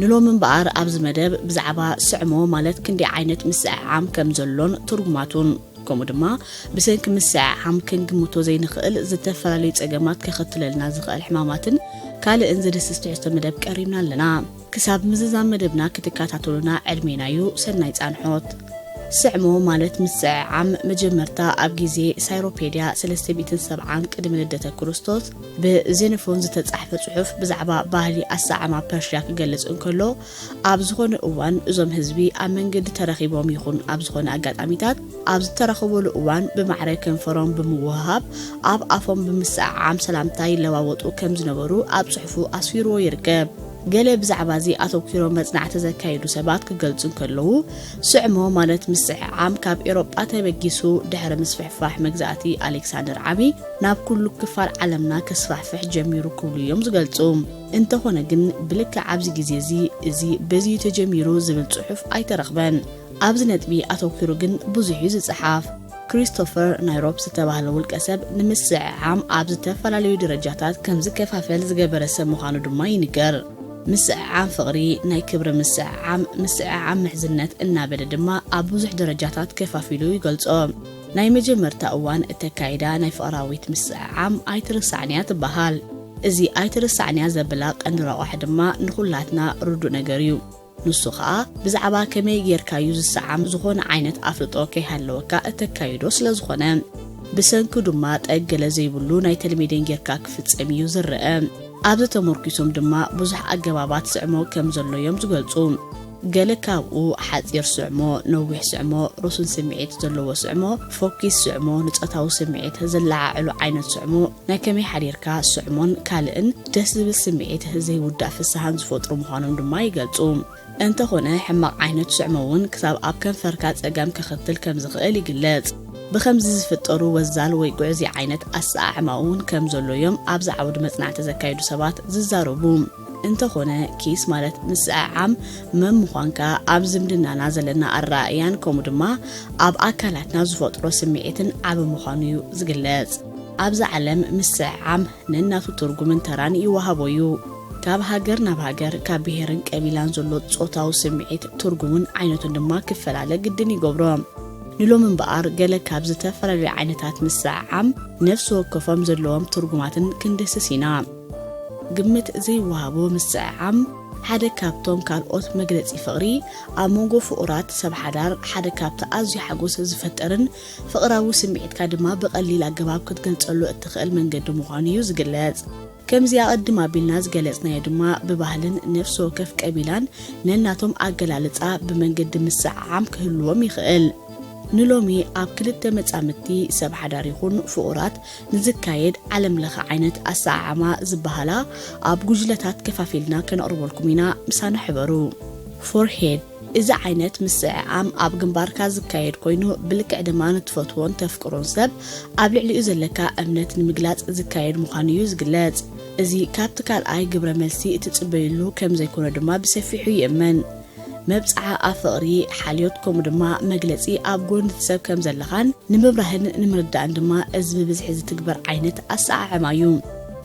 ንሎሚ እምበኣር ኣብዚ መደብ ብዛዕባ ስዕሞ ማለት ክንደይ ዓይነት ምስዕዓም ከም ዘሎን ትርጉማቱን ከምኡ ድማ ብሰንኪ ምስዕዓም ክንግምቶ ዘይንኽእል ዝተፈላለዩ ጸገማት ከኸትለልና ዝኽእል ሕማማትን ካልእን ዝድስስ ትሕዝቶ መደብ ቀሪብና ኣለና። ክሳብ ምዝዛም መደብና ክትከታተሉና ዕድሜና እዩ። ሰናይ ጻንሖት። ስዕሞ ማለት ምስዕዓም መጀመርታ ኣብ ግዜ ሳይሮፔድያ ሰለስተ ሚእትን ሰብዓን ቅድሚ ልደተ ክርስቶስ ብዜኖፎን ዝተጻሕፈ ጽሑፍ ብዛዕባ ባህሊ ኣሰዓማ ፐርሽያ ክገልጽ እንከሎ ኣብ ዝኾነ እዋን እዞም ህዝቢ ኣብ መንገዲ ተረኺቦም ይኹን ኣብ ዝኾነ ኣጋጣሚታት ኣብ ዝተረኸበሉ እዋን ብማዕረ ከንፈሮም ብምውህሃብ ኣብ ኣፎም ብምስዕዓም ሰላምታ ይለዋወጡ ከም ዝነበሩ ኣብ ጽሑፉ ኣስፊርዎ ይርከብ። ገለ ብዛዕባ እዚ ኣተኪሮ መጽናዕቲ ዘካየዱ ሰባት ክገልጹ እንከለዉ ስዕሞ ማለት ምስዕዓም ካብ ኤሮጳ ተበጊሱ ድሕሪ ምስፍሕፋሕ መግዛእቲ ኣሌክሳንደር ዓቢ ናብ ኩሉ ክፋል ዓለምና ከስፋሕፍሕ ጀሚሩ ክብሉ እዮም ዝገልጹ። እንተኾነ ግን ብልክዕ ኣብዚ ግዜ እዚ እዚ በዚ እዩ ተጀሚሩ ዝብል ጽሑፍ ኣይተረኽበን። ኣብዚ ነጥቢ ኣተኲሩ ግን ብዙሕ እዩ ዝጸሓፍ። ክሪስቶፈር ናይሮፕ ዝተባህለ ውልቀ ሰብ ንምስዕዓም ኣብ ዝተፈላለዩ ደረጃታት ከም ዝከፋፈል ዝገበረ ሰብ ምዃኑ ድማ ይንገር። ምስዕዓም ፍቕሪ፣ ናይ ክብሪ ምስዕዓም፣ ምስዕዓም ምሕዝነት እናበለ ድማ ኣብ ብዙሕ ደረጃታት ከፋፊሉ ይገልጾ። ናይ መጀመርታ እዋን እተካይዳ ናይ ፍቕራዊት ምስዕዓም ኣይትርሳዕንያ ትበሃል። እዚ ኣይትርሳዕንያ ዘብላ ቀንዲ ረቋሒ ድማ ንኹላትና ርዱእ ነገር እዩ። ንሱ ከኣ ብዛዕባ ከመይ ጌርካዩ ዝሰዓም ዝኾነ ዓይነት ኣፍልጦ ከይሃለወካ እተካይዶ ስለ ዝኾነ። ብሰንኩ ድማ ጠግ ገለ ዘይብሉ ናይ ተልሜዴን ጌርካ ክፍጸም እዩ ዝረኣ። ኣብዚ ተሞርኪሶም ድማ ብዙሕ ኣገባባት ስዕሞ ከም ዘሎዮም ዝገልጹ። ገለ ካብኡ ሓጺር ስዕሞ፣ ነዊሕ ስዕሞ፣ ርሱን ስምዒት ዘለዎ ስዕሞ፣ ፎኪስ ስዕሞ፣ ንጾታዊ ስምዒት ዘለዓዕሉ ዓይነት ስዕሞ፣ ናይ ከመይ ሓዲርካ ስዕሞን ካልእን ደስ ዝብል ስምዒት ዘይውዳእ ፍስሃን ዝፈጥሩ ምዃኖም ድማ ይገልጹ። እንተኾነ ሕማቕ ዓይነት ስዕሞ እውን ክሳብ ኣብ ከንፈርካ ጸገም ከኸትል ከም ዝኽእል ይግለጽ። ብኸምዚ ዝፍጠሩ ወዛል ወይ ግዑዝይ ዓይነት ኣሰዓዕማ እውን ከም ዘሎ እዮም ኣብዚ ዓውዲ መጽናዕቲ ዘካይዱ ሰባት ዝዛረቡ። እንተኾነ ኪስ ማለት ምስዕዓም መምዃንካ ኣብ ዝምድናና ዘለና ኣረኣእያን ከምኡ ድማ ኣብ ኣካላትና ዝፈጥሮ ስምዒትን ዓቢ ምዃኑ እዩ ዝግለጽ። ኣብዛ ዓለም ምስዕዓም ነናቱ ትርጉምን ተራን ይወሃቦ እዩ። ካብ ሃገር ናብ ሃገር፣ ካብ ብሄርን ቀቢላን ዘሎ ጾታዊ ስምዒት ትርጉሙን ዓይነቱን ድማ ክፈላለ ግድን ይገብሮ። ንሎሚ እምበኣር ገለ ካብ ዝተፈላለዩ ዓይነታት ምስዕዓም ነፍሲ ወከፎም ዘለዎም ትርጉማትን ክንድህስስ ኢና። ግምት ዘይወሃቦ ምስዕዓም ሓደ ካብቶም ካልኦት መግለጺ ፍቕሪ ኣብ መንጎ ፍቑራት ሰብ ሓዳር ሓደ ካብቲ ኣዝዩ ሓጎስ ዝፈጥርን ፍቕራዊ ስምዒትካ ድማ ብቐሊል ኣገባብ ክትገልጸሉ እትኽእል መንገዲ ምዃኑ እዩ ዝግለጽ። ከምዚ ኣቐድም ኣቢልና ዝገለጽናዮ ድማ ብባህልን ነፍሲ ወከፍ ቀቢላን ነናቶም ኣገላልጻ ብመንገዲ ምስዕዓም ክህልዎም ይኽእል። ንሎሚ ኣብ ክልተ መጻምድቲ ሰብ ሓዳር ይኹን ፍቑራት ንዝካየድ ዓለም ለኸ ዓይነት ኣሰዓዓማ ዝበሃላ ኣብ ጉጅለታት ከፋፊልና ከነቕርበልኩም ኢና ምሳና ሕበሩ። Forehead እዚ ዓይነት ምስዕዓም ኣብ ግንባርካ ዝካየድ ኮይኑ ብልክዕ ድማ ንትፈትዎን ተፍቅሮን ሰብ ኣብ ልዕሊኡ ዘለካ እምነት ንምግላጽ ዝካየድ ምዃኑ እዩ ዝግለጽ። እዚ ካብቲ ካልኣይ ግብረ መልሲ እትጽበዩሉ ከምዘይኮነ ድማ ብሰፊሑ ይእመን። መብጽዓ ኣብ ፍቕሪ፣ ሓልዮት ከምኡ ድማ መግለጺ ኣብ ጎኒ እቲ ሰብ ከም ዘለኻን ንምብራህን ንምርዳእን ድማ እዚ ብብዝሒ ዝትግበር ዓይነት ኣሰዓዕማ እዩ።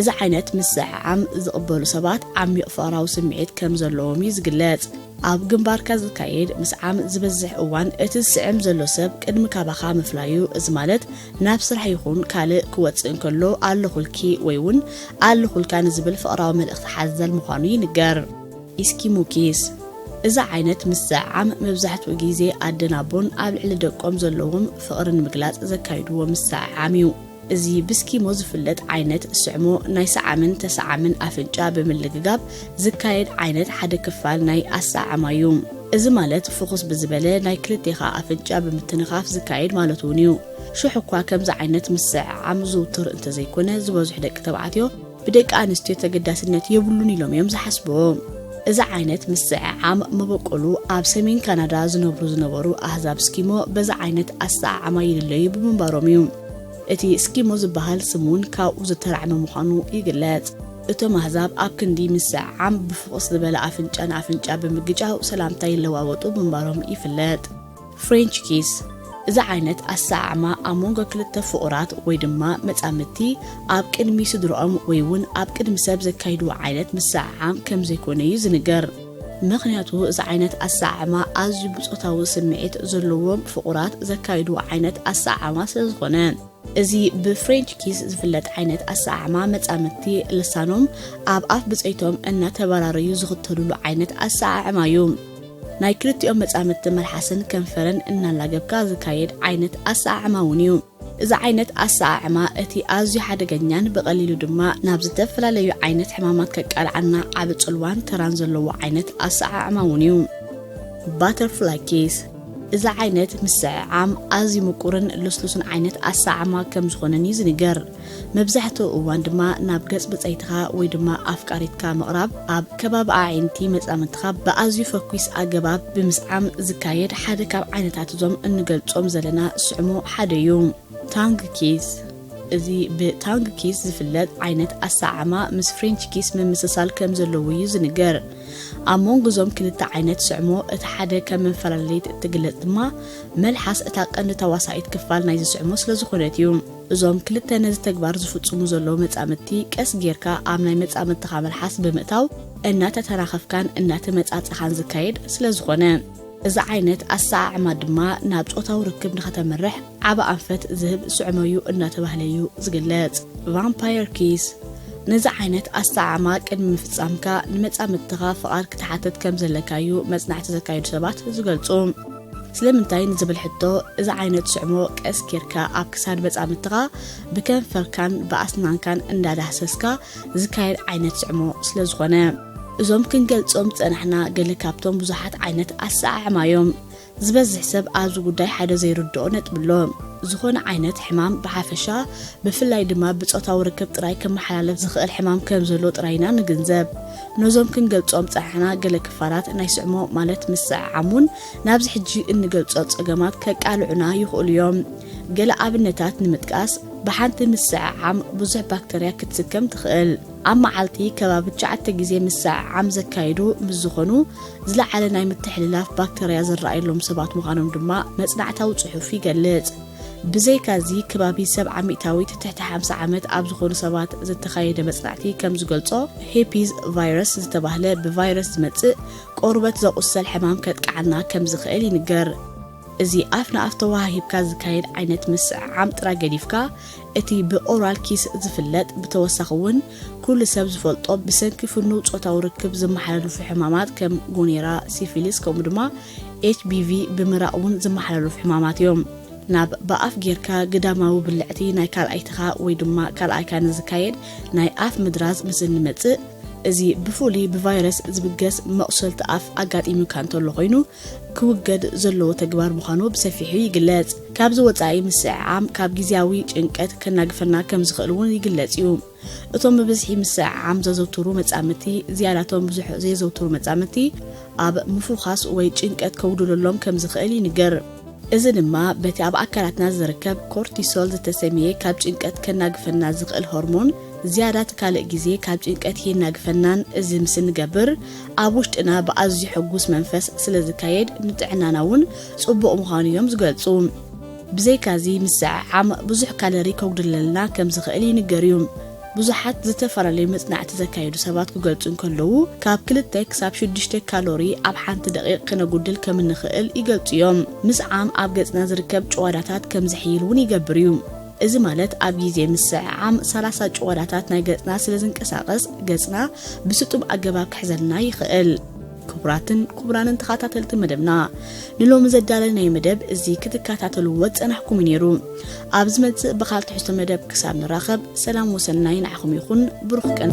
እዚ ዓይነት ምስዕዓም ዝቕበሉ ሰባት ዓሚቕ ፍቕራዊ ስምዒት ከም ዘለዎም እዩ ዝግለጽ። ኣብ ግንባርካ ዝካየድ ምስዓም ዝበዝሕ እዋን እቲ ዝስዕም ዘሎ ሰብ ቅድሚ ካባኻ ምፍላዩ፣ እዚ ማለት ናብ ስራሕ ይኹን ካልእ ክወጽእ እንከሎ ኣለኹልኪ ወይ'ውን ኣለኹልካ ንዝብል ፍቕራዊ መልእኽቲ ሓዘል ምዃኑ ይንገር። ኢስኪሙ ኪስ፣ እዚ ዓይነት ምስዕዓም መብዛሕትኡ ግዜ ኣደን ኣቦን ኣብ ልዕሊ ደቆም ዘለዎም ፍቕሪ ንምግላጽ ዘካይድዎ ምስዕዓም እዩ። እዚ ብስኪሞ ዝፍለጥ ዓይነት ስዕሞ ናይ ሰዓምን ተሰዓምን ኣፍንጫ ብምልግጋብ ዝካየድ ዓይነት ሓደ ክፋል ናይ ኣሰዓዕማ እዩ። እዚ ማለት ፍኹስ ብዝበለ ናይ ክልቴኻ ኣፍንጫ ብምትንኻፍ ዝካየድ ማለት'ውን እዩ። ሽሕ'ኳ ከምዚ ዓይነት ምስዕዓም ዝውቱር እንተዘይኮነ ዝበዝሑ ደቂ ተባዕትዮ፣ ብደቂ ኣንስትዮ ተገዳስነት የብሉን ኢሎም እዮም ዝሓስቡ። እዚ ዓይነት ምስዝዕዓም መበቆሉ ኣብ ሰሜን ካናዳ ዝነብሩ ዝነበሩ ኣህዛብ ስኪሞ በዚ ዓይነት ኣሰዓዓማ ይልለዩ ብምንባሮም እዩ። እቲ ስኪሞ ዝበሃል ስም እውን ካብኡ ዝተራዕመ ምዃኑ ይግለጽ። እቶም ኣህዛብ ኣብ ክንዲ ምስዝዕዓም ብፍኹስ ዝበለ ኣፍንጫ ንኣፍንጫ ብምግጫው ሰላምታ ይለዋወጡ ምንባሮም ይፍለጥ። ፍሬንች ኪስ እዚ ዓይነት ኣሰዓዕማ ኣብ መንጎ ክልተ ፍቑራት ወይ ድማ መጻምድቲ ኣብ ቅድሚ ስድርኦም ወይ እውን ኣብ ቅድሚ ሰብ ዘካይድዎ ዓይነት ምሰዓዓም ከም ዘይኮነ እዩ ዝንገር። ምኽንያቱ እዚ ዓይነት ኣሰዓዕማ ኣዝዩ ብጾታዊ ስምዒት ዘለዎም ፍቑራት ዘካይድዎ ዓይነት ኣሰዓዕማ ስለ ዝኾነ። እዚ ብፍሬንች ኪስ ዝፍለጥ ዓይነት ኣሰዓዕማ መጻምድቲ ልሳኖም ኣብ ኣፍ ብጸይቶም እናተበራረዩ ዝኽተሉሉ ዓይነት ኣሰዓዕማ እዩ። ናይ ክልቲኦም መጻምድቲ መልሓስን ከንፈርን እናላገብካ ዝካየድ ዓይነት ኣሰዓዕማ እውን እዩ። እዚ ዓይነት ኣሰዓዕማ እቲ ኣዝዩ ሓደገኛን ብቐሊሉ ድማ ናብ ዝተፈላለዩ ዓይነት ሕማማት ከቃልዓና ዓቢ ጽልዋን ተራን ዘለዎ ዓይነት ኣሰዓዕማ እውን እዩ። ባተርፍላይ ኪስ እዚ ዓይነት ምስዕዓም ኣዝዩ ምቁርን ልስሉስን ዓይነት ኣሰዓማ ከም ዝኾነን እዩ ዝንገር። መብዛሕትኡ እዋን ድማ ናብ ገጽ ብጸይትኻ ወይ ድማ ኣፍቃሪትካ ምቕራብ ኣብ ከባቢ ኣዒንቲ መጻምድትኻ ብኣዝዩ ፈኲስ ኣገባብ ብምስዓም ዝካየድ ሓደ ካብ ዓይነታት እዞም እንገልጾም ዘለና ስዕሙ ሓደ እዩ። ታንግ ኪስ እዚ ብታንግ ኪስ ዝፍለጥ ዓይነት ኣሰዓማ ምስ ፍሬንች ኪስ ምምስሳል ከም ዘለዎ እዩ ዝንገር። ኣብ መንጎ እዞም ክልተ ዓይነት ስዕሞ እቲ ሓደ ከም መፈላለሊት እትግለጽ ድማ መልሓስ እታ ቀንዲ ተዋሳኢት ክፋል ናይዚ ስዕሞ ስለ ዝኾነት እዩ። እዞም ክልተ ነዚ ተግባር ዝፍጽሙ ዘለዉ መጻምድቲ ቀስ ጌርካ ኣብ ናይ መጻምድትኻ መልሓስ ብምእታው እናተተናኸፍካን እናተመጻጸኻን ዝካየድ ስለ ዝኾነ፣ እዚ ዓይነት ኣሰዓዕማ ድማ ናብ ጾታዊ ርክብ ንኸተምርሕ ዓቢ ኣንፈት ዝህብ ስዕሞ'ዩ እናተባህለ'ዩ ዝግለጽ። ቫምፓየር ኪስ፣ ነዚ ዓይነት ኣሰዓዕማ ቅድሚ ምፍጻምካ ንመጻምድትኻ ፍቓድ ክትሓትት ከም ዘለካ'ዩ መጽናዕቲ ዘካየዱ ሰባት ዝገልጹ። ስለምንታይ ንዝብል ሕቶ፣ እዚ ዓይነት ስዕሞ ቀስ ጌርካ ኣብ ክሳድ መጻምድትኻ ብከንፈርካን ብኣስናንካን እንዳዳህሰስካ ዝካየድ ዓይነት ዝዕሞ ስለ ዝኾነ እዞም ክንገልጾም ዝጸናሕና ገለ ካብቶም ብዙሓት ዓይነት ኣሰዓዕማ እዮም። ዝበዝሕ ሰብ ኣብዚ ጉዳይ ሓደ ዘይርድኦ ነጥቢ ኣሎ። ዝኾነ ዓይነት ሕማም ብሓፈሻ ብፍላይ ድማ ብጾታዊ ርክብ ጥራይ ክመሓላለፍ ዝኽእል ሕማም ከም ዘሎ ጥራይ ኢና ንግንዘብ። ነዞም ክንገልጾም ዝጸናሕና ገለ ክፋላት ናይ ስዕሞ ማለት ምስዕዓሙን ናብዚ ሕጂ እንገልጾ ጸገማት ከቃልዑና ይኽእሉ እዮም። ገለ ኣብነታት ንምጥቃስ፣ ብሓንቲ ምስዕዓም ብዙሕ ባክተርያ ክትስከም ትኽእል። ኣብ መዓልቲ ከባቢ ትሽዓተ ግዜ ምስዕዓም ዘካይዱ ምስ ዝኾኑ፣ ዝለዓለ ናይ ምትሕልላፍ ባክተርያ ዝረኣየሎም ሰባት ምዃኖም ድማ መጽናዕታዊ ጽሑፍ ይገልጽ። ብዘይካዚ ከባቢ ሰብዓ ሚእታዊት ትሕቲ ሓምሳ ዓመት ኣብ ዝኾኑ ሰባት ዝተኻየደ መጽናዕቲ ከም ዝገልጾ፣ ሄፒዝ ቫይረስ ዝተባህለ ብቫይረስ ዝመጽእ ቆርበት ዘቑሰል ሕማም ከጥቅዓና ከም ዝኽእል ይንገር። እዚ ኣፍ ንኣፍ ተወሃሂብካ ዝካየድ ዓይነት ምስዕዓም ጥራይ ገዲፍካ፣ እቲ ብኦራል ኪስ ዝፍለጥ፣ ብተወሳኺ እውን ኩሉ ሰብ ዝፈልጦ ብሰንኪ ፍኑው ጾታዊ ርክብ ዝመሓላለፉ ሕማማት ከም ጎኔራ፣ ሲፊሊስ ከምኡ ድማ HBV ብምራቕ እውን ዝመሓላለፉ ሕማማት እዮም። ናብ ብኣፍ ጌርካ ግዳማዊ ብልዕቲ ናይ ካልኣይትኻ ወይ ድማ ካልኣይካ ንዝካየድ ናይ ኣፍ ምድራዝ ምስ እንመጽእ፣ እዚ ብፍሉይ ብቫይረስ ዝብገስ መቑሰልቲ ኣፍ ኣጋጢሙካ እንተሎ ኮይኑ ክውገድ ዘለዎ ተግባር ምዃኑ ብሰፊሑ ይግለጽ። ካብዚ ወጻኢ ምስዕዓም ካብ ግዝያዊ ጭንቀት ከናግፈና ከም ዝኽእል እውን ይግለጽ እዩ። እቶም ብብዝሒ ምስዕዓም ዘዘውትሩ መጻምድቲ ዝያዳቶም ብዙሕ ዘየዘውትሩ መጻምድቲ ኣብ ምፉዃስ ወይ ጭንቀት ከውድለሎም ከም ዝኽእል ይንገር። እዚ ድማ በቲ ኣብ ኣካላትና ዝርከብ ኮርቲሶል ዝተሰምየ ካብ ጭንቀት ከናግፈና ዝኽእል ሆርሞን ዝያዳ እቲ ካልእ ግዜ ካብ ጭንቀት የናግፈናን እዚ ምስ እንገብር ኣብ ውሽጥና ብኣዝዩ ሕጉስ መንፈስ ስለ ዝካየድ ንጥዕናና እውን ጽቡቕ ምዃኑ እዮም ዝገልጹ። ብዘይካዚ ምስዕዓም ብዙሕ ካለሪ ከጉድለልና ከም ዝኽእል ይንገር እዩ። ብዙሓት ዝተፈላለዩ መጽናዕቲ ዘካየዱ ሰባት ክገልጹ እንከለዉ ካብ ክልተ ክሳብ ሽዱሽተ ካሎሪ ኣብ ሓንቲ ደቒቕ ክነጉድል ከም እንኽእል ይገልጹ እዮም። ምስዓም ኣብ ገጽና ዝርከብ ጭዋዳታት ከም ዝሕይል እውን ይገብር እዩ። እዚ ማለት ኣብ ግዜ ምስዕዓም ሰላሳ ጭዋዳታት ናይ ገጽና ስለ ዝንቀሳቐስ ገጽና ብስጡም ኣገባብ ክሕዘልና ይኽእል። ክቡራትን ክቡራንን ተኸታተልቲ መደብና ንሎሚ ዘዳለናዮ መደብ እዚ ክትከታተልዎ ዝጸናሕኩም ነይሩ። ኣብ ዝመጽእ ብኻል ትሕዝቶ መደብ ክሳብ ንራኸብ ሰላም ወሰናይ ንዓኹም ይኹን ብሩኽ ቀን